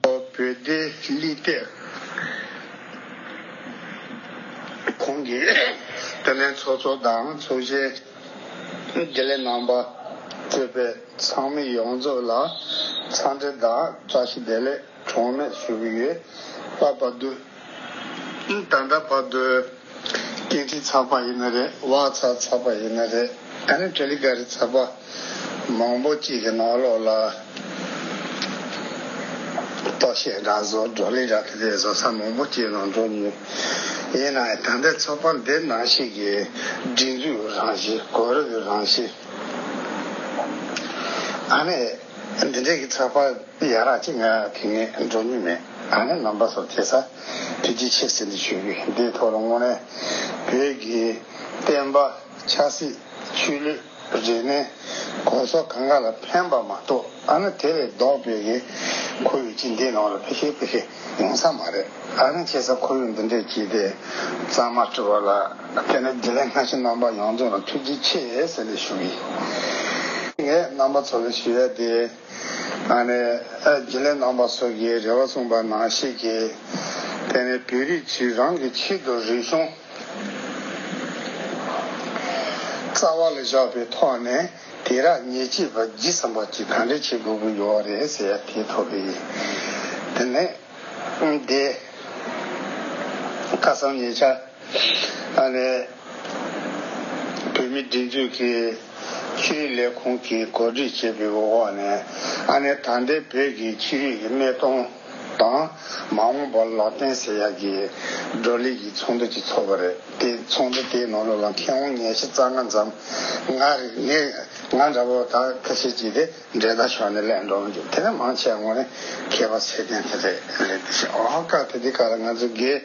བོད་སྡེ་ལི་སྟེ། གོང་གི་དེ་ལས་ཚོགས་གཙོ་དང་ཚོགས་གཞོན་དགེ་ལས་རྣམ་པ་གཙོས་པའི་ཚང་མི་ཡོངས་རྫོགས་ལ་འཚམས་འདྲི་དང་བཀྲ་ཤིས་བདེ་ལེགས་གྲངས་མེད་ཞུ་གི་ཡོད། བཀའ་བབས་བསྡུ། ད་ལྟ་བར་དུ། སྐེ་དཀྲིས་ཚགས་པ་ཡིན་ན་རེད། བག་ཚ་ཚགས་པ་ཡིན་ན་རེད། ཨ་ནི་ཏྲེ་ལི་ཀ་རི་ཚགས་པ་མང་པོ་གཅིག་གི་ནང་ལོགས་ལ། ལྟོ་ཤས་འདྲ་བཟོ་གྲོ་ལི་འདྲ་གི་དེ་བཟོ་ས་མང་པོ་གཅིག་ནང་འགྲོ་ནུས། ཡིན་ན་ད་ལྟའི་ཚགས་པ་འདི་ནང་ཞིག་གི་སྒྲིག་འཛུགས་རང་བཞིན་གོ་རིམ་རང་བཞིན། ཨ་ནི། འདི་འདྲས་ཀྱི་ཚགས་པར་ཡག་རག་ཅིག་ང་དེ་སྔས་འགྲོ་མྱོང་མེད་ད་ནི་ནང་པ་ཚོར་དེ་ཚ་དུས་ཀྱི་ཕྱིར་ཟེར་འདི་ཞུ་གི་འདིའི་ཐོག་ལ་དངོས་གནས་བོད་ཀྱི་བསྟན་པ་ཆགས་སྲིད་ཆོས་ལུགས་རིག་གནས་གོང་ས་གང་ག་ལ་ཕན་པ་མ་གཏོགས་ཨ་ན་དེ་ལས་ལྡོག་བོད་ཀྱི་ཁོར་ཡུག་ཅིག་འདིའི་ནང་ལ་ཕེ་ཤེ་ཕེ་ཤེ། ཡོང་ས་མ་རེད། ཨ་རིན་ཆེ་ས་ཁོ་བོས་འདི་འདྲས་བགྱིས་ཏེ། གཙང་མ་བཀྲི་བ་ལ་བརྟེན་ནས་དགེ་ལས་སྔ་ཕྱི་རྣམ་པ་ཡོངས་རྫོགས་ལ་ཐུགས་རྗེ་ཆེ་ཟེར་ནས་ཞུ་གི་ཡིན། ངས་རྣམ་པ་ཚོ་ལ་ཞུ་ཡ་དེ། ཨ་ནེ། དགེ་ལས་རྣམ་པ་སོགས་ཀྱིས་རེ་བ་གསུངས་པ་ནང་བཤད་ཀྱི། དེ་ནས་བོད་རིགས་ཚོས་རང་གི་ཆེད་དུ་རིག་གཞུང་རྩ་བ་ལ་བཞག་པའི་ཐོག་ནས། དེ་རག་ཉེས་བྱས་པ་བགྱིས་སམ་བག་བགྱིས་གང་འདྲས་བྱེད་དགོས་ཀྱི་ཡོད་བ་རེད་ཟེར་ཡ་དེ་ཐོབ་པའི་དེ་ནས་བསྡད། ཁ་སང་ཉེ་ཆར་ཨ་ནེ་བོད་མི་སྒྲིག་འཛུགས་ཀྱི་ཕྱི་རིགས་ལས་ཁུངས་ཀྱིས་གོ་སྒྲིག་བྱས་པའི་འོག་ནས་ཨ་ནེ་ཐང་ཏེ་བོད་ཀྱི་ཕྱི་རིགས་ཀྱི་སྨད་སྟོང་དང། མ་འོངས་པར་ལག་བསྟན་ཟེར་ཡག་གི་བགྲོ་གླེང་གི་ཚོགས་འདུ་ཅིག་ཚོགས་པ་རེད་དེ་ཚོགས་འདུ་དེའི་ནང་ལོ་ལ་མཁས་དབང་ཉེར་བཞི་རྩ་ལྔ་འཛམ་ང་རིག་ངས་ང་འདྲ་བོ་དག་ཁ་ཤས་ཀྱིས་དེ་འབྲེལ་ད་ཞོག་ནས་ལས་འགྲོ་རྒྱུ་དེ་འདྲ་མང་ཆེ་བ་ངོ་ནས་མཁས་པ་ཚད་ལྡན་དེ་རེད་དེ་བཞིན་ཨོ་ཧ་ཀ་དེ་དེ་ག་ལ་ང་ཚོ་དགེ།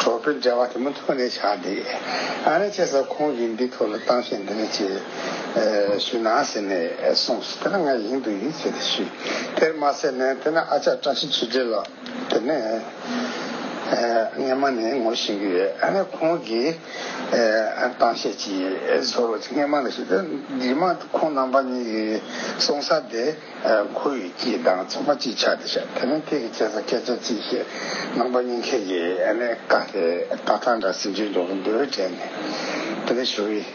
གྲོགས་པོའི་འབྲེལ་བ་དེ་མུ་མཐུད་ནས་ཆགས་འདུག་ཨ་རན་ཆེ་ས་ཁོང་གིས་འདི་ཐོག་ལ་གཏམ་བཤད་འདི་འདྲ་ཅིག་ཞུས་ན་ཟེར་ནས་གསུངས་སོ་དེ་ལ་ང་ཡིན་འདུག་ཡིན་ཟེར་ཏེ་ཞུས་དེར་མ་ཟད་ནས་དེ་ནས་ཨ་ཅག་བཀྲ་ཤིས་ཆོས་སྒྲིལ་ལགས་དེ་ནས་རྔན་མ་ནས་ངོ་ཤེས་ཀྱི་ཡོད་ཨ་ནས་ཁོང་གིས་གཏམ་བཤད་ཅིག་བཟོ་རོགས་ཅིག་རྔན་མ་ལ་ཞུས་དེར་འདི་མ་ཁོང་རྣམ་པ་གཉིས་ཀྱིས་གསུངས་ས་དེ། ཁོ་ཡི་སྐྱིད་དང་ཚོང་པ་གཅིག་ཆགས་ཏེ་བཤད་དེ་ནི་ཁྱེད་ཀྱི་སྐྱེས་ས་སྐད་ཆ་གཅིག་བཤད་ནང་པ་གཉིས་ཁྱེད་ཀྱི་ཨ་ནེ་ཀ་ལྷའི་རྟ་ཐང་འདྲ་ཟིན་ཅིག་འགྲོ་གི་འདུག་དྲན་ནས་དེ་ནས་ཞུ་གི་ཡིན།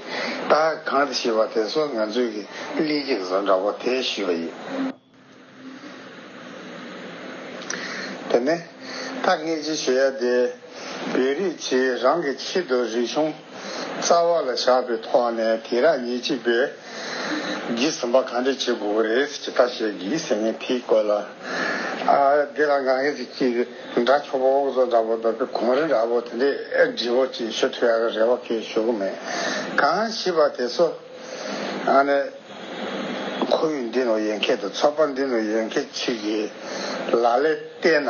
ད་གང་དུ་ཤི་བ་དེ་སོགས་ང་ཚོས་ཀྱི་གླིང་གི་བཟོ་འདྲ་བོ་དེ་ཞུས་པ་ཡིན། དེ་ནས་ད་ངས་ཅི་ཞུ་ཡ་དེ། བོད་རིགས་ཚོས་རང་གི་ཆེད་དུ་རིག་གཞུང། རྩ་བ་ལ་བཞག་པའི་ཐོག་ནས་དེང་རབས་ཉིན་གཅིག་པས་གིས་ཟིན་པ་གང་འདྲས་བྱེད་དགོས་པ་རེད་ཅེས་ཁ་ཤས་ཀྱིས་ཟིན་ངན་ཕིག་བཀོད་ལ། འདི་ལ་ང་ངས་ཀྱི་འདྲ་ཆོག་པོ་འོག་ཟོག་འདྲ་པོ་འདོགས་པའི་གོང་རིམ་ར་བོ་དེ་འདྲས་འབྲི་བོ་ཅེས་ཞུ་ཐུ་ཡ་ག་རེ་བ་ཁས་ཞུ་གི་མེད་གང་ཞིག་པ་དེ་ཚོ་ནི། ཁོ་བོས་འདི་ནོ་ཡན་ཁད་དུ་ཚོགས་པ་འདི་ནོ་ཡན་ཁད་ཅིག་གི་ལག་ལས་བལྟས་ན།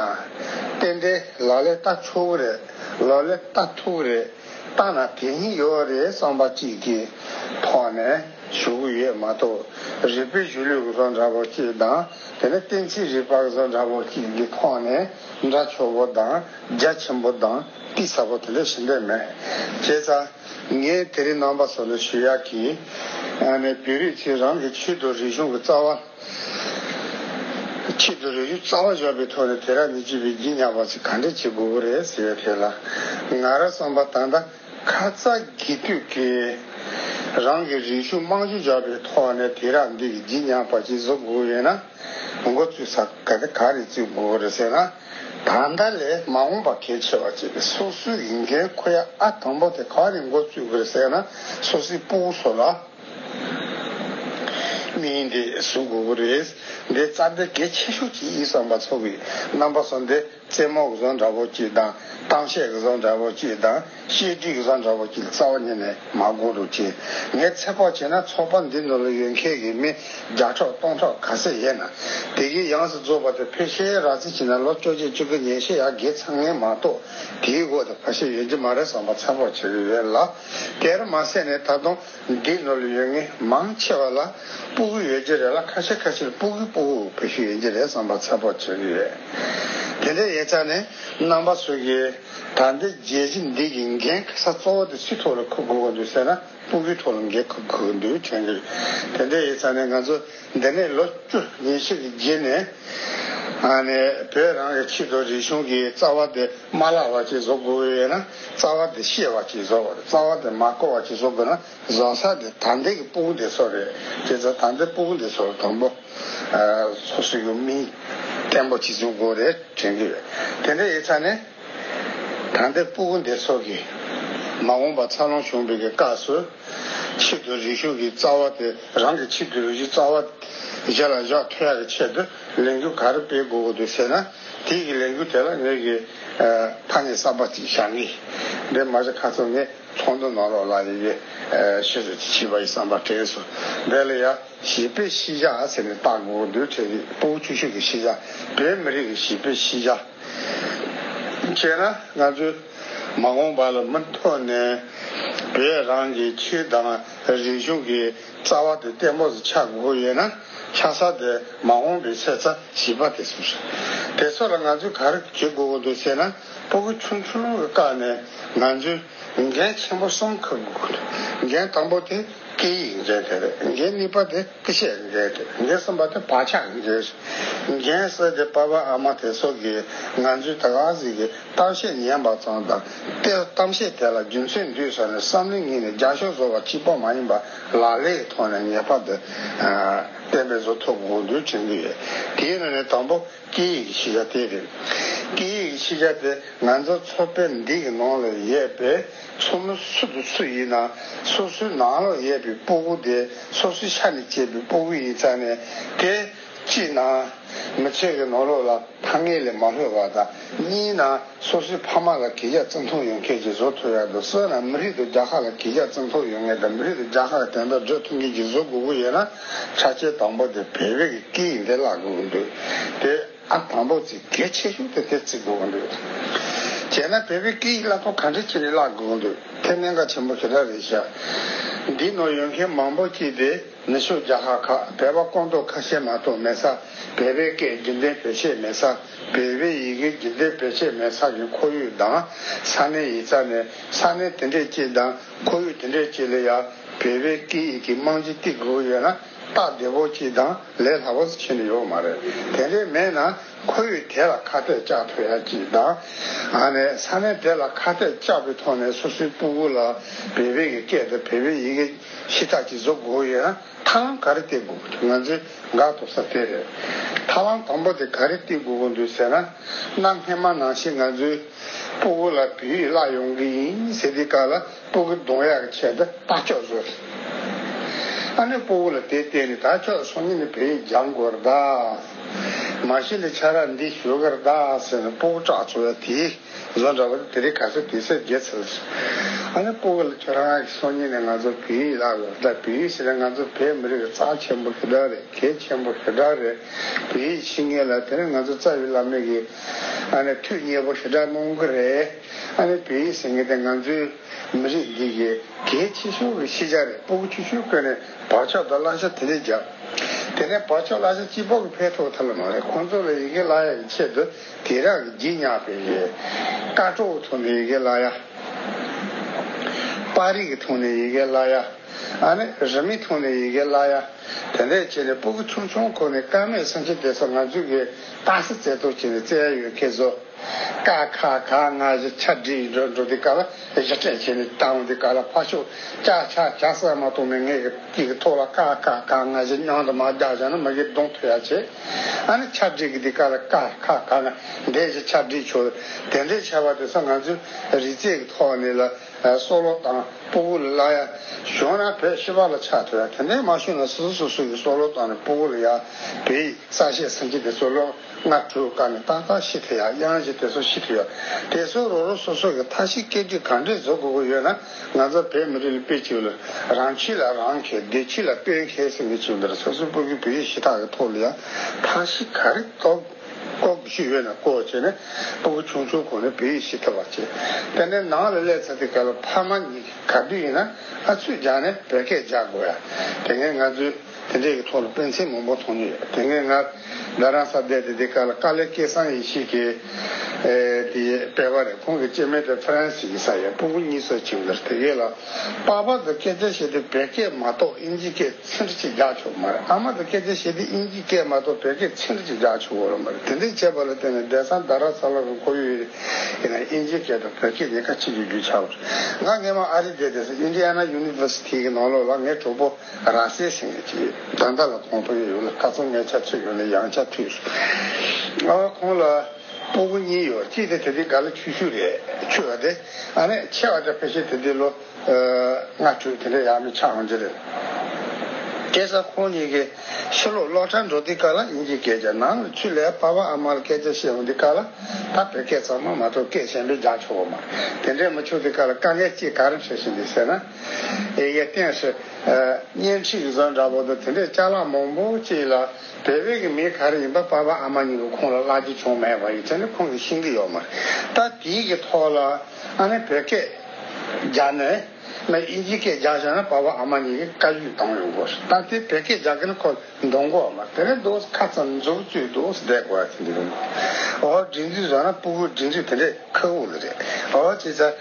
རྟེན་འབྲེལ་ལག་ལས་བལྟ་ཆོག་གི་རེད་ལོ་ལས་བལྟ་ཐུབ་ཀྱི་རེད། བཏང་ན་དེ་གཉིས་ཡོད་རེད་བསམ་པ་གཅིག་གི་ཐོག་ནས་ཞུ་གི་ཡོད་མ་གཏོགས་རིག་པའི་གཞུང་ལུགས་བཟོ་འདྲ་པོ་གཅིག་དང་དེ་ནས་གཏན་ཚིགས་རིག་པ་བཟོ་འདྲ་པོ་གཅིག་གི་ཐོག་ནས་འདྲ་ཆོ་བོ་དང་རྒྱ་ཆེན་པོ་དང་གཏིང་ཟབ་པོ་དེ་ལས་ཞི་འདོད་མེད། ཁྱེད་ཚ། ངས་དེ་རིང་རྣམ་པ་སོ་ལོ་ཞུ་ཡག་གིས། ནས་བོད་རིགས་ཚོས་རང་གི་ཆུས་དོ་རིག་གཞུང་གི་རྩ་བ། ཆེད་དུ་རས་རུས་གཙང་བ་བཞག་པའི་ཐོག་ནས་དེ་ར་ནི་སྤྱི་པའི་བགྱི་ཉག་པ་ཚོས་ག་འདྲས་བྱེད་དགོས་པོ་རེད་ཟེར་བའི་ཐད་ལ། ང་ར་བསམ་པ་ད་ལྟ་ཁ་ཚ་དགྱེས་དུས་ཀྱི། རང་གི་རིག་གཞུང་དམངས་གཞུང་བཞག་པའི་ཐོག་ནས་དེ་ར་འདི་གི་བགྱི་ཉག་པ་ཅིག་བཟོ་དགོས་ཡོད་ན། མགོ་བཙུགས་ས་ག་དེ་ག་ནས་བཙུགས་དགོས་པོ་རེད་ཟེར་ན། ད་ལྟ་ལས་མ་འོངས་པ་གལ་ཆེ་བ་བཅས་པའི་སོ་སོའི་རིག་འགན་ཁོ་ཡ་ཨ་དང་པོ་དེ་ག་ནས་མགོ་བཙུགས་དགོས་ཟེར་ན་སོ་སོའི་སྤུ་བོ་ཚོ་ལ། མི་ཡིན་ཏེ་གཟུགས་དགུ་པོ་རེད། འདི་རྩ་འགྲེལ་གལ་ཆེ་ཤོས་ཀྱི་ཡིག་ཚང་པ་ཚོ་གི་རྣམ་པ་སོ་འདི་རྩེད་མོ་གཟོ་འདྲ་བོ་གཅིག་དང་གཏམ་བཤད་གཟོ་འདྲ་བོ་གཅིག་དང་བཤད་སྒྲིག་གཟོ་འདྲ་བོ་གཅིག་རྩ་བ་ཉིད་ནས་མ་གོ་འགྲོ་ཅི། ངས་ཚེ་དཔག་བྱས་ན་ཚོགས་པ་འདི་ནོར་ལུག་ཡོད་མཁན་གྱི་མི་བརྒྱ་ཕྲོག་སྟོང་ཕྲོག་ག་ཚད་ཡས་ན་དེ་གི་ཡང་སྲི་རྫོགས་པ་དེ་ཕེ་ཤའི་ར་རྩི་བྱིན་ན་ལོ་བཅོ་བརྒྱད་བཅུ་གི་ཉེས་བཤད་ཡ་གེ་ཚང་ངས་མ་གཏོགས་དེའི་སྒོ་དེ་ཕ་ཤའི་ཡོད་ཀྱི་མ་རེད་བསམ་པ་ཚེ་དཔག་བྱས་ཡོད་རེད་ལ། དེར་མ་ཟད་ནས་ད་དུང་འདིས་ནོར་ལུས་ཡོད་ངེས་མང་ཆེ་བ་ལ་སྤུ་གུ་ཡོད་ཀྱི་རེད་ལ་ཁ་ཤས་ཁ་ཤས་སྤུ་གུ་སྤུ་གུ་བུ་ཞིག་ཡིན་གྱི་རེད་བསམ་པ་ཚད་དཔོག་བྱེད་ཀྱི་ཡོད། དེ་འདྲའི་ཡས་ཆ་ནི་རྣམ་པ་སུ་གིས་ད་ལྟའི་རྒྱལ་སྤྱི་འདི་གི་འགན་ཁ་ས་གཙོ་བོ་དེ་སུའི་ཐོག་ལ་འཁུར་དགོས་ཀྱི་འདུག་ཟེར་ན་སྤུ་གུའི་ཐོག་ལ་འགན་འཁུར་དགོས་ཀྱི་འདུག་དྲན་གྱི་རེད། དེ་འདྲའི་ཡས་ཆ་ནི་ང་ཚོ། འདི་ནས་ལོ་བཅུ་ཉེ་ཕྱེད་རྗེས་ནས་བོད་རང་གི་ཕྱི་དོ་རིག་གཞུང་གི་རྩ་བ་དེ་མ་བརླག་བར་གྱིས་བཟོ་དགོས་ཡོད་ན་རྩ་བ་དེ་ཤེས་བར་གྱིས་བཟོ་དགོས་རྩ་བ་དེ་མ་གོ་བར་གྱིས་བཟོ་དགོས་ན་བཟོ་ས་དེ་དར་འདེགས་ཀྱི་དཔུང་སྡེ་ཚོ་རེད་དེ་ཚོ་དར་འདེགས་དཔུང་སྡེ་ཚོར་དང་པོ་སོ་སོའི་ཡུལ་མིང་བརྟན་པོ་གྱིས་བཟོ་དགོས་རེད་དྲན་གྱི་རེད་དེ་འདྲ་ཡིན་ཚ་ནས། དམ་པའི་སྤུ་གུ་འདི་ཚོགས་ཀྱིས། མ་འོངས་པ་འཚར་ལོངས་འབྱུང་བའི་གི་སྐབས་སུ། ཆེད་དུ་རིགས་ཞུགས་ཀྱི་རྩ་བ་དེ་རང་གི་ཆེད་དུ་རིགས་ཞུགས་རྩ་བ། རྗེས་ལ་བཞག་ཐོ་ཡག་གི་ཆེད་དུ་ལས་འགུལ་ག་རེ་སྤེལ་དགོས་གི་འདུག་ཟེར་ན། དེས་ཀྱི་ལས་འགུལ་དེ་ལ་ངོས་ཀྱིས། ཕ་ནི་གསར་པ་ཅིག་བཞག་གི། འདིར་མ་བཞག་ཁ་ཚོན་ནི་ཚོགས་འདུ་ནང་རོགས་ལ་ཡི་གེ། ཞེས་སོགས་ཅིག་བྱས་པ་ཡི་བསམ་པ་དྲན་སོ། དེ་ལ་ཡང་བྱིས་པའི་ཤེས་བྱ་ཟེར་ནས་བཏགས་དགོས་གི་འདུག་ཁྲེལ་རིགས་སྤུ་གུ་ཆུ་ཤུགས་ཀྱི་ཤེས་བྱ། བོད་མི་རིགས་ཀྱི་བྱིས་པའི་ཤེས་བྱ། བྱས་ན་ང་ཚོས་མ་འོངས་པ་ལ་མུ་མཐུད་ནས་བོད་རང་གི་ཆོས་དང་རིག་གཞུང་གི་རྩ་བ་དེ་བརྟན་པོ་ཆགས་དགོས་ཡོད་ན་ལྷ་ས་དེ་མ་འོངས་པའི་ཚེ་ས་བྱིས་པ་དེ་ཚོ་དེ་ཚོ་ལ་ང་ཚོས་ག་རེ་བྱེད་དགོས་འདུག་ཟེར་ན་སྤོ་གི་ཆུང་ཆུང་གི་བཀག་ནས་ང་ཚོས་འགན་ཆེན་པོ་གསུམ་འཁུར་དགོས་འདུག་འགན་དང་པོ་དེ་སྐད་ཡིག་འགན་དེ་རེད་འགན་གཉིས་པ་དེ། ཀྱི་ཤེས་ཡོན་རེད་དེ་འདི་གསུམ་པ་དེ་བག་ཆགས་ཡིན་རེད། རྒན་བསོད་དེ་པ་བ་ཨ་མ་དེ་སོགས་ཀྱིས་ང་ཚོའི་ད་ག་ཟིག་གི་གཏམ་བཤད་ཉན་པ་ཙམ་དང་དེ་གཏམ་བཤད་དེ་ལ་རྒྱུ་མཚན་འདུས་ས་ནས་བསམ་བློའི་ངོས་ནས་རྒྱ་ཤོག་བཟོ་བ་གཅིག་པོ་མ་ཡིན་པ་ལག་ལེའི་ཐོག་ནས་ངེས་པ་དེ་བསྟན་པའི་བཟོ་ཐོབ་དགོངས་འདུས་དྲན་གྱི་ཡོད་དེའི་ནང་ནས་དང་པོ། སྐད་ཡིག་གི་ཤེས་བྱ་དེ་རེད། སྐད་ཡིག་གི་ཤེས་བྱ་དེ་ང་ཚོ་མཚོ་དཔེ་འདི་གི་ནང་ལ་ཡས་པའི་མཚོ་མོ་སུ་དང་སུ་ཡིན་ན་སོ་སོའི་ནང་ལ་ཡས་པའི་སྤུ་གུ་དེ་སོ་སོའི་ཤ་ནས་སྐྱེས་པའི་སྤུ་གུ་ཡིན་ཙང་ནས་དེ། གཅིག་ན། མི་ཚེ་གི་ནང་ལོགས་ལ་ཐ་སྙད་ལས་མ་ལྷོད་པ་དང་གཉིས་ན། སོ་སོའི་ཕ་མ་ལ་གྱེས་རྒྱ་བརྩི་མཐོང་ཡོང་ཁྱེད་ཀྱིས་བཟོ་ཐུབ་ཡག་འདུག་སོས་ལ་མི་རིགས་དུ་རྒྱ་ཁག་ལ་གྱེས་རྒྱ་བརྩི་མཐོང་ཡོང་ངེས་དང་མི་རིགས་དུ་རྒྱ་ཁག་གི་དན་ཏོག་སྒྲོལ་ཐུབ་མཁན་གྱིས་བཟོ་དགོས་ཀྱི་ཡོད་ན་ཆ་ཆའི་དང་པོ་དེ་བོད་རིགས་ཀྱི་སྐད་ཡིག་འདི་བརླག་དགོས་ཀྱི་འདུག་དེ་ཨ་དང་པོ་ཚིག་གལ་ཆེ་ཤོས་དེ་དེ་བརྩི་དགོས་ཀྱི་འདུག་བྱས་ན་བོད་པའི་སྐད་ཡིག་བརླག་ཐོ་ག་འདྲི་ཆེ་རེ་བརླག་དགོས་ཀྱི་འདུག་དེ་གནད་འགག་ཆེན་པོ་ཞེ་དྲག་རེད་ཤག་འདི་ནོར་ཡོང་མཁན་མང་པོ་སྐྱིད་དེ། ནུ་ཞོ་རྒྱ་ཧ་ཁ་བལ་བ་ཀོང་ཏོག་ཁ་ཤས་མ་གཏོགས་མེད་ས་བལ་བའི་སྐད་རྒྱུན་ལྡན་བེད་སྤྱད་མེད་ས་བལ་བའི་ཡི་གེ་རྒྱུན་ལྡན་བེད་སྤྱད་མེད་ས་ཀྱི་ཁོར་ཡུག་དང་ས་གནས་ཡི་རྩ་ནས་ས་གནས་དེ་འདྲས་ཀྱི་དང་ཁོར་ཡུག་དེ་འདྲས་ཀྱི་ལ་ཡ་བལ་བའི་སྐད་ཡིག་གི་རྨང་གཞི་གཏིག་དགོས་ཀྱི་ཡོད་ན་སྟག་བདེ་བོ་གཅིག་དང་ལས་སླ་བོ་ཞིག་ཆེ་ནས་ཡོད་མ་རེད་དེ་འདྲས་མེད་ན། ཁོ་བོས་དེ་ལ་ཁ་གཏད་བཅག་ཐུབ་ཡག་ཅིག་དང། ཨ་ནས་ས་ནས་དེ་ལ་ཁ་གཏད་བཅག་པའི་ཐོག་ནས་སོ་སོའི་སྤུ་གུ་ལ་བེ་བེ་གི་སྐད་དང་བེ་བེ་ཡི་གེ་ཤི་ཐག་ཅིག་བཟོ་དགོས་ཡོད་ན་ཐ་ལམ་ག་རེ་སྟེར་དགོས་དགོས་འདུག་ང་ཚོས་དགག་ཐུབ་ས་དེ་རེད། ཐ་ལམ་དང་པོ་དེ་ག་རེ་སྟེར་དགོས་དགོས་འདུག་ཟེར་ན། གནའ་སྔས་མ་ནང་བཞིན་ང་ཚོའི་སྤུ་གུ་ལ་བེ་བེ་བརླག་ཡོང་གི་ཡིན་ཟེར་དུས་ག་ལ། སྤོ་གི་གདོང་ཡག་གི་བྱས་ད་ལྟ་ཅོག་བཟོ་རེད། ཨ་ནི་སྤོ་བོ་ལ་དེ་བལྟས་ནས་ད་ཅོག་སོང་ཉིན་ནས་བལ་ཡིག་སྦྱང་དགོས་རེད་ད། མ་གཞི་ལས་ཆ་རག་འདི་བཟོ་གི་རེད་ད་ཟེར་ནས་སྤོ་བོ་སྐྲག་ཚོར་བས་དེ་བཟོ་འདྲ་བ་དེ་དེ་རིགས་ག་ཚོད་དེ་ཚད་བརྒྱད་ཚར་རེད་ཟེར། ཨ་ནི་སྤོ་བོ་ལ་ཁྱོད་རང་གིས་སོང་ཉིན་ནས་ང་ཚོ་བལ་ཡིག་བརླག་ཡོད་རེད་ད་བལ་ཡིག་ཟེར་ན་ང་ཚོ་བལ་མི་རིགས་ཀྱི་རྩ་ཆེན་པོ་ཞེ་དྲག་རེད་གལ་ཆེན་པོ་ཞེ་དྲག་རེད། བལ་ཡིག་ཤེས་ངེས་ལ་དེ་ནས་ང་ཚོ་རྩ་བའི་བླ་མེད་ཀྱི་ཨ་ནི་ཐུགས་མཉེས་པོ་ཞེ་དྲག་གནང་གི་རེད། ཨ་མའི་བོད་ཡིག་ཟེར་མཁན་དེ་ང་ཚོའི་མི་རིགས་འདི་ཡི་གེའི་ཕྱི་ཤུར་གྱི་ཤེས་བྱ་རེད་སྤོ་བོ་ཆུ་ཤུར་བཀོལ་ནས་བག་ཆགས་དང་བླང་བྱ་དེ་འདྲས་བརྒྱབ། དེ་ནས་བག་ཆགས་བླང་བྱ་སྤྱི་ཕོག་གི་ཕས་ཐོག་ཐལ་ལ་མ་རེད་ཁོང་ཚོ་ལ་ཡི་གེ་བླ་ཡག་གི་ཆེད་དུ་དེ་རག་གི་བརྗིད་ཉག་ཕེབས་ཡོད། ཀ་ཀྲོ་བོ་ཐོག་ནས་ཡི་གེ་བླ་ཡག། པར་རིས་ཀྱི་ཐོག་ནས་ཡི་གེ་བླ་ཡག། ཨ་ནི་རི་མི་ཐོག་ནས་ཡི་གེ་བླ་ཡག། དེ་འདྲས་བྱས་ནས་སྤོ་བོ་ཆུང་ཆུང་ཁོ་ནས་ཀ་མའི་སེམས་ཤུགས་དེ་ཚོ་ང་ཚོའི་གིས་སྟངས་སེ་རྩེ་གཏོར་བྱས་ནས་བཙལ་ཡ་ཡོད་སྐད་བཟོ། ཀ་ཁ་ཁ་སྔ་ཕྱི་ཆ་སྒྲིག་འགྲོ་འགྲོ་དེ་ཀ་ལ་གཞི་སྤྲད་བྱས་ནས་བཏང་དེ་ཀ་ལ་ཕ་ཤུག་ཅག་ཆ་ཆ་ཟ་མ་གཏོང་ནས་ངས་ཀྱི་ཀྱི་ཐོག་ལ་ཀ་ཁ་ཁ་སྔ་ཕྱི་སྙང་དུ་མ་བརྒྱག་བྱས་ན་མི་གིས་གདོང་ཐུག་ཡ་བྱེད་ཨ་ནི་ཆ་སྒྲིག་གི་དེ་ཀ་ལ་ཀ་ཁ་ཁ་ང་འདས་ཀྱི་ཆ་སྒྲིག་ཆོག་དེ་འདྲའི་ཆ་བ་དེ་ས་ང་ཚོའི་རི་རྩེ་གི་ཐོག་ནས་ལ་སོ་ལོ་དང་སྤུ་གུ་ལ་ལ་ཡ་ཞོན་ན་བོད་ཤི་བ་ལ་ཆ་ཐོ་ཡ་དེ་འདྲའི་མ་ཞོན་ན་སོ་སོ་སོ་སོ་ཡི་སོ་ལོ་དང་སྤུ་གུ་ལ་ཡ་བོད་ཡི་ས་ཤས་སེམས་ཅན་དེ་ཚོ་ལོ། སྔ་དྲོའི་སྐབས་ནས་ཏག་ཏག་ཤི་ཐུ་ཡ་དབྱངས་བཞི་དེ་ཚོ་ཤི་ཐུ་ཡོད། དེ་ཚོའི་རོ་རོ་སོ་སོ་གི་མཐའ་བཞི་སྐད་འཕྲིན་གང་འདྲས་བཟོ་དགོས་ཀྱི་ཡོད་ན་ང་ཚོ་བོད་མི་རིགས་ལ་དཔེ་གཅིག་ལོས། རང་ཕྱི་ལ་རང་མཁས་སྡེ་ཕྱི་ལ་དཔོན་མཁས་ཟེར་མི་གཅིག་འདིར་ས་སུ་སྤོ་གི་བོད་ཡིག་གཞི་ཐག་གི་ཐོག་ལ་ཡང་མཐའ་བཞི་ག་རེ་གཏོགས་གཏོགས་དགོས་ཤིག་ཡོད་ན་གོ་བྱས་ནས་སྤོ་གི་ཆུང་ཆུང་གོ་ནས་བོད་ཡིག་ཤི་ཐུ་བ་བྱེད། དེ་ནས་ནང་ལ་སླེབས་ཚར་ཏེ་ག་ལོ་ཕ་མ་གཉིས་ག་དུས་ཡིན་ན་ཨ་ཚུད་སྦྱངས་ནས་བོད་སྐད་རྒྱག་དགོས་ཡ། དེ་སྔའི་ང་ཚོའི། དེ་འདྲའི་གི་ཐོག་ལ་སྤེན་ཚེ་མང་པོ་མཐོང་རྒྱུ་ཡོད་དེ་ངས་ང་རྡ་རམ་ས་བསྡད་དེ་དེ་ག་ལ་དཀའ་ལས་སྐལ་བཟང་ཡིན་ཞིག་གི་དེ་སྤེལ་བ་རེད་ཁོང་གི་སྐྱེས་མེད་དེ France ཡིན་ས་ཡིན་སྤུན་གུ་གཉིས་སོ་ཆིང་གིར་དེ་གས་ལ་པགས་པ་དུ་སྐད་ཆ་བཤད་དུས་བད་སྐད་མ་གཏོགས་དབྱིན་ཇི་སྐད་ཚིག་འདྲི་གཅིག་རྒྱག་ཆོག་གི་མ་རེད་ཨ་མ་དུ་སྐད་ཆ་བཤད་དུས་དབྱིན་ཇི་སྐད་མ་གཏོགས་བད་སྐད་ཚིག་འདྲི་གཅིག་རྒྱག་ཆོག་གི་མ་རེད་དེ་འདྲའི་བྱས་པ་ལ་བརྟེན་ནས་བསྡད་ས་རྡ་ར་ས་ལ་རུ་ཁོ་ཡོད་ཡིན་ན་དབྱིན་ཇི་སྐད་དང་བད་སྐད་གཉིས་ཀ་གཅིག་གི་རྒྱུ་ཆགས་པ་རེད་ང་སྔན་མ་ཨ་རི་བསྡད་དེ་ས Indiana University གི་ནང་ལོགས་ལ་ངའི་གྲོགས་པོ་རང་སའི་ཞིང་ལས་ཀྱི་བདག་མདའ་ལ་གོང་འཕོ་ཡོད་ཡོད་ལ་སྐར་ཚོགས་ལྔའི་ཆ་ཚུད་ཡོད་ལ་ཡང་ཆ་ཚུད། ཨ་བ་ཁོང་ལ་སྤོ་བོ་གཉིས་ཡོད་གཅིག་དེ་དེ་དུས་ག་ལ་ཆུ་ཤུར་རེད་ཆུ་བ་དེ་ཨ་མས་ཆེ་བ་འདྲ་ཕལ་ཆེར་དེ་དུས་ལོ་ལྔ་དྲུག་དེ་འདྲ་ཡ་མི་ཆགས་འོང་རྒྱུ་རེད། སྐལ་བཟང་ཁོང་གཉིས་ཀྱི་ཕྱི་ལོག་སློག་གྲྭར་འགྲོ་དུས་ག་ལ་ཡིན་གྱི་སྐད་ཆ་ནང་ལ་ཆུ་ལས་ཕ་བ་ཨ་མར་སྐད་ཆ་བཤད་འོང་དུས་ག་ལ་ད་བོད་སྐད་ཚང་མ་མ་གཏོགས་སྐད་གཞན་པའི་རྒྱག་ཆོག་གོ་མ་དེ་འདྲས་མ་ཆོག་དུས་ག་ལ་དཀའ་ངལ་ཅིག་ག་རེ་འཕྲད་བཞིན་འདུག་ཟེར་ན། ཨེ་ཡའི་སྟེང་ཧྲི། གཉེན་ཁྲིག་གཟའ་འདྲ་བོ་འདུག་དེ་འདྲའི་ལྕགས་ལ་མང་པོ་སྐྱེས་ལ། བལ་བོད་ཀྱི་མི་ག་རེ་ཡིན་པ་དཔའ་བོ་ཨ་མ་གཉིས་ཀྱིས་ཁོང་ལ་བརླག་རྒྱུ་བྱུང་མེད་པ་ཡིན་དེ་ནི་ཁོང་གིས་ཤེས་ཀྱི་ཡོད་མ་རེད་ད་དེའི་གི་ཐོག་ལ་ཨ་ནི་བོད་སྐད་རྒྱག་ནས་ལ་ཨིན་ཇི་སྐད་རྒྱག་བཞག་ན་དཔའ་བོ་ཨ་མ་གཉིས་ཀྱིས་བཀའ་ཡུས་གཏང་ཡོང་དགོས་རེད་ད་དེ་བོད་སྐད་རྒྱག་གི་ན་ཁོ་འདོང་དགོས་བ་མ་རེད་དེ་ནི་འདུག་ཁ་ཙམ་འཛུགས་བཅུག་འདུག་བསྡད་དགོས་བ་དེ་འདི་རེད་འདུག་ཨོ་ཧོ་འབྲི་འཛུལ་བཟོ་ན་སྤུ་བོ་འབྲི་འདྲི་དེ་འདྲའི་ཁག་བོ་ལ་རེད་ཨོ་ཧོ་ཅེས་བྱ།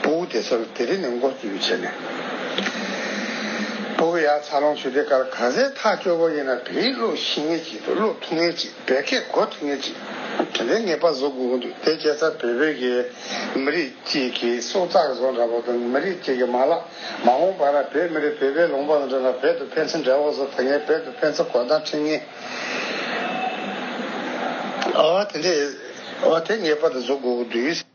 སྤོ་བོ་དེ་སར་དེ་རི་ནས་མགོ་བཙུགས་བྱས་ནས། སྤོ་བོ་ཡ་ཚ་ལོང་ཆུ་དེ་གར་གང་ཟན་ཐག་སྐྱོ་བོ་ཡིན་ན་བལ་ཡིག་ཀློག་ཤེས་ངེས་ཅིག་འདུག་ཀློག་ཐུབ་ངེས་ཅིག་བལ་སྐད་གོ་ཐུབ་ངེས་ཅིག་དེ་འདྲའི་ངེས་པ་བཟོ་དགོས་ཀྱི་འདུག་དེ་སྐྱེས་ཚར་བལ་བོད་ཀྱི་མི་རིགས་གཅིག་གི་སྲོག་རྩ་གཟོ་འདྲ་བོ་དང་མི་རིགས་གཅིག་གི་མ་ལག་མ་འོངས་པ་ན་བོད་མི་རིགས་བལ་བོའི་ལུང་པ་དང་འགྲོ་ན་བལ་དུ་ཕན་ཚུན་འབྲེལ་བ་བཟོ་ཐུབ་ངེས་བལ་དུ་ཕན་ཚུན་གོ་ཐང་འཕྲིན་ངེས་འོ་དེ་འདྲའི་འོ་དེ་ངེས་པ་དེ་བཟོ་དགོས་ཀྱི་འདུག།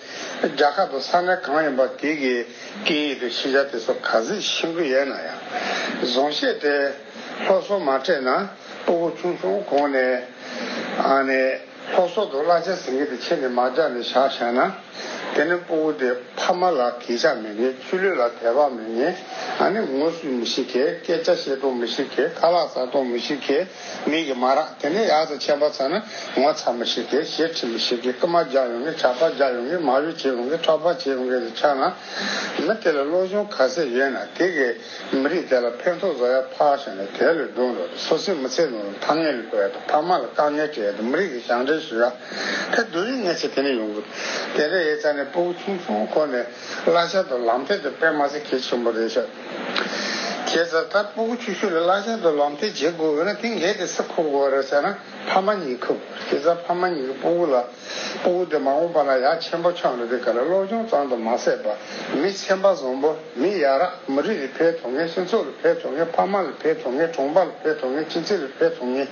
རྒྱ་གར་དུ་ས་གནས་གང་ཡིན་པ་དེ་གའི་སྐད་ཡིག་ཏུ་ཤེས་བྱ་དེ་ཚོ་ག་ཟེ་ཤེས་ཀྱི་ཡོད་ན་ཡང། བཟང་ཤེས་ཏེ། ལྷོ་སོག་མ་འཕྲད་ན་སྤོ་བོ་ཆུང་ཆུང་གོང་ནས། ཨ་ནི། ལྷོ་སོག་དུ་གླ་ཆ་ཟིན་གི་དེ་ཁྱེར་ནས་མར་རྒྱག་ནས་བཞག་བཞག་ན། དེ་ནི་སྤོ་བོ་དེ་ཕ་མ་ལ་གས་ཆག་མི་ངེས་ཆུ་ལུད་ལ་དད་པ་མི་ངེས་ཨ་ནི་ངོ་སུས་མི་ཤེས་གས་སྐད་ཆ་བཤད་སྟོང་མི་ཤེས་གས་ཁ་ལག་ཟ་སྟོང་མི་ཤེས་གས། མིག་གིས་མ་རག་དེ་ནས་ཡག་ཏུ་མཆན་པ་ཚར་ན་ངོ་ཚ་མི་ཤེས་ཏེ་ཞེ་ཁྲེལ་མི་ཤེས་ཀི་རྐུ་མ་རྒྱག་ཡོང་གི་ཇག་པ་རྒྱག་ཡོང་གི་མ་གཡོ་བྱེད་ཡོང་གི་ཁྲག་སྦག་བྱེད་ཡོང་གི་དེ་ཆགས་ན། མི་དེ་ལ་བློ་སྦྱོང་ག་ཚད་ཡོད་ན་དེ་གས་མི་རིགས་དེ་ལ་ཕན་ཐོག་བཟོ་ཡ་ཕག་བཞག་ནས་དེ་ལས་སྡུག་འགྲོ་སོ་སེ་མི་ཚེ་ནོར་ཕག་ངན་ལས་འགོ་ཡ་དང་ཕ་མ་ལ་དཀའ་ངལ་སྤྲད་ཡ་དང་མི་རིགས་ཀྱི་ཞང་འབྲེལ་ཞུ་ཡ་ཕེབས་སྡུག་རིགས་ངན་ཚེ་དེ་ནས་ཡོང་གི་དེ་འདྲ་ཡས་ཚར་ནས་སྤོ་བོ་ཆུང་ཆུང་ཁོ་ནས་གླ་ཤ་དང་ལམ་ཐད་དུ་པད་མ་ཚེ་གེ་ཆེན་པོ་རེད་ཤག། ཁྱེད་རྩ་ལྟར་སྤོ་སྒོ་ཆུ་ཤུར་ལ་བླ་ཆེན་དུ་ལམ་སྟོན་བྱེད་དགོས་འོ་ན་དེང་གལ་ཏེ་ས་ཁུག་བོ་ར་བྱ་ན་ཕ་མ་གཉིས་ཁུག་ཁྱེད་རྩ་ཕ་མ་གཉིས་ཀྱི་སྤོ་སྒོ་ལ་སྤོ་སྒོ་དེ་མ་འོངས་པ་ན་ཡག་ཆེན་པོ་འཁྱོངས་ལ་དེ་ག་ལ་བློ་སྦྱོང་གཙང་དུ་མ་ཟད་པ་མི་ཆེན་པ་བཟང་པོ་མི་ཡག་རག་མ་རིགས་ལ་ཕེ་ཐོ་ངེས་སེམས་ཚོགས་ལ་ཕེ་ཐོ་ངེས་ཕ་མ་ལ་ཕེ་ཐོ་ངེས་གྲོང་པ་ལ་ཕེ་ཐོ་ངེས་སྤྱི་ཚེ་ལ་ཕེ་ཐོ་ངེས་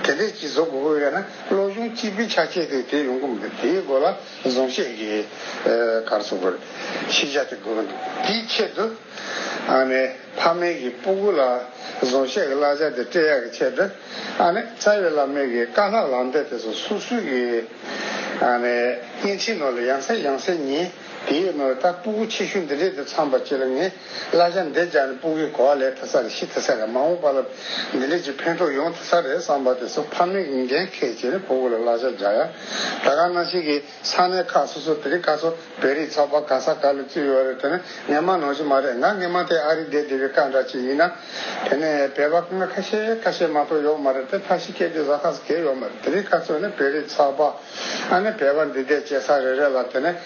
དེ་འདྲས་ཅིག་བཟོ་དགོས་པོ་ཡོད་ན་བློ་སྦྱོང་སྤྱི་པའི་ཆ་བྱད་དེ་དེ་ཡོང་གི་མི་འདུག་དེའི་སྒོ་ལ། གཟུངས་བཞེས་ཀྱི་གར་སོགས་པར་ཤེས་བྱ་དེ་དགོས་པ་འདུག་དེའི་ཆེད་དུ། ཨ་ནི་ཕ་མེས་ཀྱི་སྤུ་གུ་ལ་གཟུངས་བཞེས་ཀྱི་བླ་བྱ་དེ་སྤྲད་ཡག་གི་ཆེད་དུ། ཨ་ནི་རྩ་བའི་བླ་མེས་ཀྱི་བཀའ་ལྷག་ལམ་སྟེ་དེ་སོགས་སུ་སུ་གི། ཨ་ནི་བརྙན་འཕྲིན་ནོར་ལ་ཡང་སེ་ཡང་སེ་ཉིན་དེའི་ནོར་ད་སྤུ་གུ་ཆེ་ཤོས་འདི་འདྲས་དེ་ཚངས་པ་སྐྱིད་ལ་ངས། གླ་ཆ་འདེད་བྱ་ནི་དཔུང་གི་གོ་བ་ལས་ཐེ་ཚ་རེ་ཤི་ཐེ་ཚ་རེ་མང་བོ་པ་ལ་མི་ལེགས་ཀྱི་ཕན་ཐོགས་ཡོང་ཐེ་ཚ་རེད་བསམ་པ་དེ་སོ་ཕ་མས་གིས་འགན་ཁས་བྱས་ནས་ཕོ་བུ་ལ་གླ་ཆ་རྒྱག་ཡ། ད་ག་ནང་བཞིན་གི་ས་གནས་ཁག་སོ་སོ་དེ་རིགས་ཁ་ཚོ་བེ་རིགས་ཚོགས་པ་ག་ས་ག་ལ་བཙུད་ཡོད་རེད་དེ་ནི་ངན་མ་ནོར་གྱི་མ་རེད་ང་ངན་མ་དེ་ཨ་རིག་འདེད་བདེ་བའི་ཀ་འདྲ་ཅིག་ཡིན་ན་དེ་ནས་བེ་བ་ཁ་ཁ་ཤས་ཁ་ཤས་མ་ཏོག་ཡོག་མ་རེད་དེ་ཐ་ཤི་ཁས་དེ་ཟ་ཁ་ཟ་གས་ཡོག་མ་རེད་དེ་རིགས་ཁ་ཚོ་ནི་བེ་རིགས་ཚོགས་པ་ཨ་ནི་བེ་བ་འདི་འདེད་བྱེད་ས་རེ་རེད་ལ་དེ་ནས།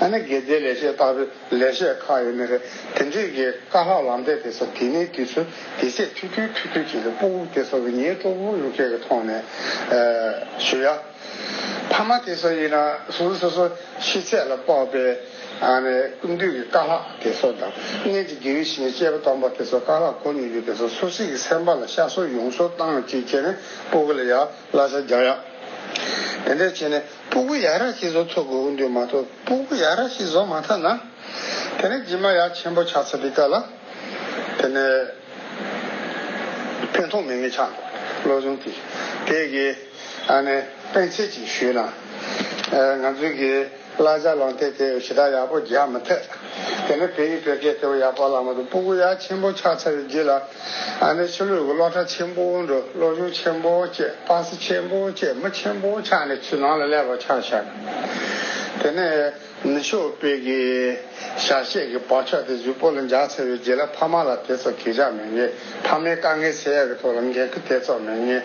ཨ་ནི་དགེ་རྩའི་ལས་བྱེད་ལྟ་བུའི་ལས་བྱེད་ཁག་ཡོད་ནི་རེད། དེ་འདྲའི་གི་དཀའ་ལྷག་ལམ་སྟེགས་དེ་ཚོ་དེ་ནས་དུས་ཚོད་དེ་ཚད་ཐུག་དུས་ཐུག་དུས་ཀྱི་ལུས་པོ་དབུགས་དེ་ཚོ་གི་ཉེས་བྲོ་བུ་ཡུག་ཁྱེད་ཀྱི་ཐོག་ནས་ཞུ་ཡ། ཕ་མ་དེ་ཚོ་ཡིན་ན་སུ་སོ་སོ་ཤི་ཚད་ལ་དཔག་པའི་ཨ་ནི་ཀུན་འདུས་གི་དཀའ་ལྷག་དེ་ཚོ་དང་གནས་ཀྱི་དགེ་བའི་བཤེས་གཉེན་གཅེས་པ་སྟོང་པ་དེ་ཚོ་དཀའ་ལྷག་གོ་མྱོང་ཡོད་དེ་ཚོ་སུ་སིག་གི་སེམས་པ་ལ་ཤ་གསོ་ཡོང་གསོ་བཏང་ཅིག་ཁྱེད་ནས་སྤོ་གི་ལ་ཡ་གླ་ཆ་རྒྱག་ཡ། དེ་འདྲ་བྱས་ནས། སྤུ་གུ་ཡ་ར་ཤི་བཟོ་ཐུབ་དགོས་འདོད་མ་གཏོགས་སྤུ་གུ་ཡ་ར་ཤི་བཟོ་མ་ཐུབ་ན། དེ་ནི་ཇི་མ་ཡ་ཆེན་པོ་ཆགས་ཚར་བའི་སྐབས་ལ། དེ་ནི། ཕན་ཐོགས་མེད་ངེས་ཆགས་འགྲོ། བློ་བཟང་གིས་དེ་གའི་ཨ་ནེ་སྤེན་ཚེ་གཅིག་ཞུས་ན། ང་ཚོའི་གའི་བླ་གཞའ་གླང་སྟེ་དེ་ཞེ་དྲག་ཡག་པོ་རྒྱག་མི་ཐུབ། དེ་ནི་བོད་ཡིག་བོད་སྐད་དེ་བས་ཡག་པོ་བཀླགས་མ་ཐུབ་སྤུ་གུ་ཡ་ཆེན་པོ་ཆགས་ཚར་བའི་རྗེས་ལ། ཨ་ནེ་ཕྱི་ལུས་ཀྱི་གློག་ཁྲ་ཆེན་པོ་འགྲོ་གློག་གཞུང་ཆེན་པོ་བཅས་པགས་སེ་ཆེན་པོ་བཅས་མི་ཆེན་པོ་ཆགས་ནས་ཆུ་ནང་ལ་ཀླད་པ་ཆགས་ཤར། དེ་ནས་ནི་ཤོག་དཔེ་གྱི་ཞག་ཤས་ཀྱི་བར་ཆགས་ཏེ་གཟུགས་པོ་ལ་འཇགས་ཚར་བའི་རྗེས་ལ་ཕ་མ་ལ་དེ་ཚོ་གས་ཆགས་མེད་ངེས་ཕ་མའི་དཀའ་ངལ་སེལ་ཡག་གི་ཐོག་ལ་འགན་ཁི་དེ་ཚོ་མེད་ངེས་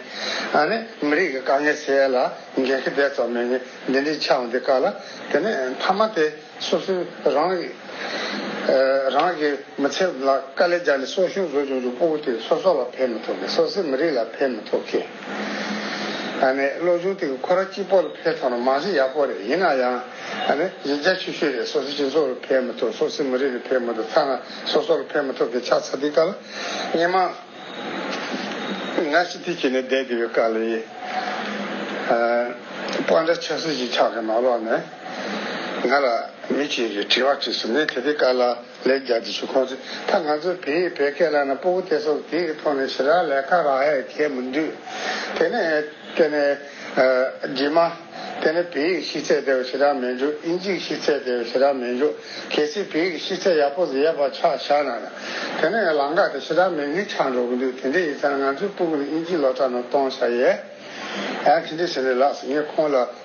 ཨ་ནེ་མི་རིགས་ཀྱི་དཀའ་ངལ་སེལ་ཡག་ལ་འགན་ཁི་དེ་ཚོ་མེད་ངེས་འདི་འདྲའི་ཆགས་འདི་ག་ལ་དེ་ནས་ཕ་མ་དེ། སོ་སོའི་རང་རིགས། རང་གི་མི་ཚེ་ལ་དཀའ་ལས་སྦྱར་ནས་སྲོག་ཤིང་བཟོ་བཅུག་འདུག་སྤོ་བོ་དེས་སོ་སོ་ལ་ཕན་མི་ཐོག་གི་སོ་སོའི་མི་རིགས་ལ་ཕན་མི་ཐོག་གི། ཨ་ནི་བློ་ཆུང་དེ་གི་ཁོ་ར་གཅིག་པོ་ལ་ཕན་ཐོག་ན་མང་གཞི་ཡག་པོ་རེད་ཡིན་ན་ཡང་ཨ་ནི་ཡིག་རྒྱ་ཆུ་ཤོས་རེད་སོ་སོའི་སྤྱི་ཚོགས་ལ་ཕན་མི་ཐོག་སོ་སོའི་མི་རིགས་ལ་ཕན་མི་ཐོག་ཐ་ན་སོ་སོ་ལ་ཕན་མི་ཐོག་གི་ཆགས་ཚ་འདི་ག་ལ་སྙན་མ་ང་ཤི་ཐིག་གྱི་ནས་བསྡད་འདི་བའི་དཀའ་ལས་ཨ་སྤོ་འདྲ་ཆགས་སྲེད་ཅིག་ཆགས་གི་མ་ལོག་ནས། ང་ལ་མི་གཅིག་གིས་དྲི་བ་དྲིས་སོང་ངས་དེ་དེ་ཀ་ལ་ལེགས་རྒྱག་རྩིས་ཞུ་ཁོང་ཚོས་ད་ང་ཚོ་བེ་ཡིས་བེ་སྐད་ལ་ན་པོ་གུ་ཏེ་སོགས་དེ་ཡི་ཐོག་ནས་ཞི་ར་ལས་ཁ་ར་ཧས་གད་མི་འདུག་དེ་ནས་དེ་ནས་རྗེས་མ་དེ་ནས་བེ་ཡིག་ཤི་ཚད་དེ་བས་ཞི་ར་མེད་འགྲོ་ཨིན་ཇིག་ཤི་ཚད་དེ་བས་ཞི་ར་མེད་འགྲོ་གལ་སྲིད་བེ་ཡིག་ཤི་ཚད་ཡག་པོ་ཟེར་ཡ་པ་ཆགས་བཞག་ན་ན་དེ་ནས་ཡང་ལང་ཀ་དེ་ཞི་ར་མེད་ངེས་ཆགས་འགྲོ་གི་འདུག་དེ་འདྲའི་ཡིན་ཚ་ན་ང་ཚོའི་པོ་གུ་ནི་ཨིན་ཇིག་སློ་གྲ་ནང་གཏོང་བཞག་ཡས་ཨ་དེ་འདྲའི་ཟེར་ནས་ལགས་སོ་ངས་ཁོང་ལ།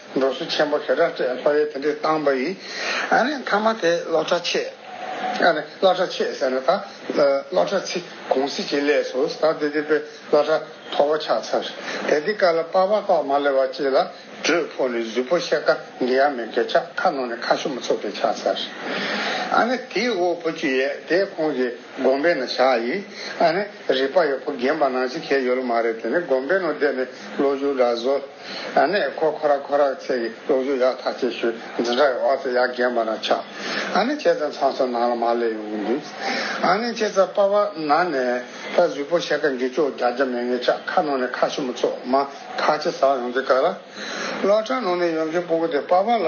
འབྲོག་སུ་ཆེན་པོ་ཧེ་ར་ཀྲས་ལྷོ་ཡའི་དེ་འདྲའི་བཏང་བ་ཡིས། ཨ་ནི་མཐའ་མ་དེ་སློ་ཁྲ་ཆེ། ཨ་ནི་སློ་ཁྲ་ཆེ་ཟེར་ན་ད་སློ་ཁྲ་ཚི་གུང་སི་ཅི་ལས་སུ་ད་དེ་དེ་པའི་སློ་ཁྲ་མཐོ་པོ་ཆགས་ཚར། དེ་དེ་ཀ་ལ་པ་བ་ཏོག་མ་ལེ་བ་ཅི་ལ་དྲོད་ཕོ་ནི་གཟུད་པོ་ཤེ་ཀ་འདི་ཡ་མེ་གེ་ཆགས་ཁ་ནོ་ནི་ཁ་ཤུ་མ་ཚུགས་པའི་ཆགས་ཚར། ཨ་ནི་དེ་ཨོ་པོ་ཅི་ཡས་དེ་ཁོང་གི་སྒོམ་པའི་ན་བཞག་ཡིས། ཨ་ནི་རིག་པ་ཡོ་པོ་རྒན་པ་ནང་ཆི་ཁའི་ཡོ་ལོ་མ་རེད་དེ་ནི་སྒོམ་པའི་ནོ་དེ་ནི་སློ་བཞུགས་འདྲ་བཟོ། ཨ་ནས་ཁོ་ཁོ་ར་ཁོ་ར་ཚེ་གི་སློབ་གསོ་ཡག་ཐག་ཆད་ཤོས་འཛིན་གྲྭ་གི་འོག་ཚེ་ཡག་རྒན་པ་རང་ཆགས་ཨ་ནས་ཁྱེད་ཚང་ཚང་སོ་ནང་ལ་མར་སླེབས་ཡོང་གི་འདུག་ཨ་ནས་ཁྱེད་ཚང་པ་བ་ན་ནས་ད་གཟུགས་པོ་ཤ་ཀ་འགེ་ཅོག་རྒྱ་རྒྱ་མེ་ངེ་ཆགས་ཁ་ནང་ནས་ཁ་ཤི་མོ་ཚོགས་མ་ཁ་ཆེ་ཟག་ཡོང་གི་ག་ར་བློ་གྲ་ནང་ནས་ཡོང་གི་སྤུ་གུ་དེ་པ་བ་ལ།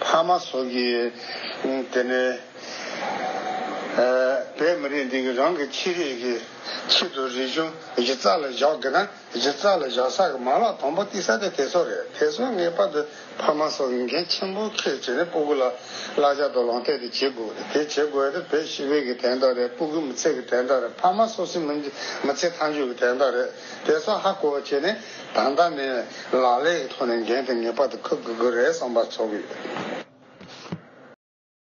ཕ་མ་སོགས་ཀྱིས་དེ་ནས་བས་མི་རིགས་འདི་གི་རང་གི་ཕྱི་རིགས་ཀྱི་ཆེད་དུ་རིག་གཞུང་གཞི་རྩ་ལ་བཞག་དགོས་ན་གཞི་རྩ་ལ་བཞག་ས་ཀྱི་མ་ལག་དང་པོ་གཏིག་ས་དེ་དེ་ཚོ་རེད་དེ་ཚོ་ངེས་པར་དུ་ཕ་མ་སོགས་འགན་ཆེན་པོ་ཁས་བྱས་ནས་སྤུ་གུ་ལ་བསླག་བྱ་དོ་ལང་སྟེ་དེ་བྱེད་དགོས་རེད་དེ་བྱེད་དགོས་དེ་བོད་ཤི་བས་ཀྱི་དན་རྟགས་རེད་སྤུ་གུ་མི་ཚེ་གི་དན་རྟགས་རེད་ཕ་མ་སོ་སོའི་མི་ཚེ་མཐའ་མཇུག་གི་དན་རྟགས་རེད་དེ་ཚོ་ཧ་གོ་བ་བྱས་ནས། ད་ལྟ་ནས་ལག་ལས་ཀྱི་ཐོག་ནས་འགན་དེ་ངེས་པར་དུ་འཁུར་དགོས་ཀྱི་རེད་བསམ་པ་ཚོར་གྱི་ཡོད།